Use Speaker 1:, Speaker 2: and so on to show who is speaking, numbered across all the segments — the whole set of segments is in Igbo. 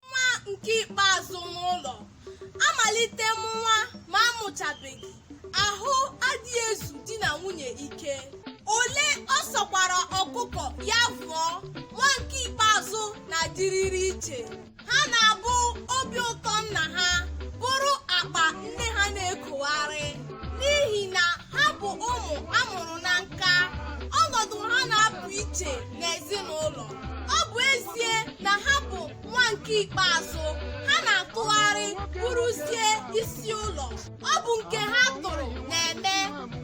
Speaker 1: nwa nke ikpeazụ n'ụlọ amalite mụwa ma amụchabeghị ahụ adịghị ezu di na nwunye ike ole ọ sọkwara ọkụkọ ya vụọ nwa nke ikpeazụ na-adịrịrị iche ha na-abụ obi ụtọ nna ha bụrụ akpa nne ha na-ekogharị n'ihi na ha bụ ụmụ amụrụ na nka ọnọdụ ha na-apụ iche n'ezinụlọ ọ bụ ezie na ha bụ nwa nke ikpeazụ ha na-atụgharị bụrụzie isi ụlọ ọ bụ nke ha tụrụ na-eme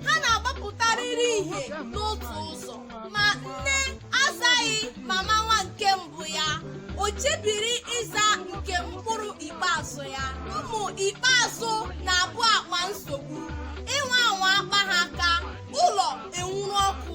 Speaker 1: ha na-agbapụtarịrị ihe n'otu ụzọ ma nne azaghị mama nwa nke mbụ ya o chebiri ịza nke mkpụrụ ikpeazụ ya ụmụ ikpeazụ na-abụ akpa nsogbu ị nwaa anwa kpaa ha aka ụlọ enwuru ọkụ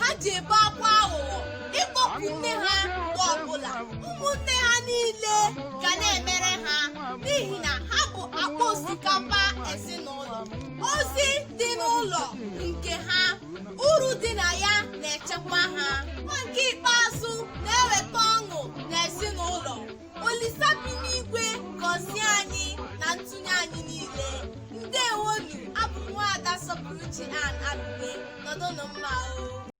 Speaker 1: ha ji ebe akwa aghụghọ ịkpọku nne ha mgbe ọbụla ụmụnne ha niile ga na-emere ha n'ihi na ha bụ akpa osikapa ezinụlọ ozi dị n'ụlọ nke ha uru dị na ya na-echekwa ha nwa nke ikpeazụ na-eweta ọṅụ n'ezinụlọ olisa bi n'igwe gọzie anyị na ntụnye anyị niile ndewonụ abụ m nwaada sọpụrụchi an abụbe nọdụnụ mma o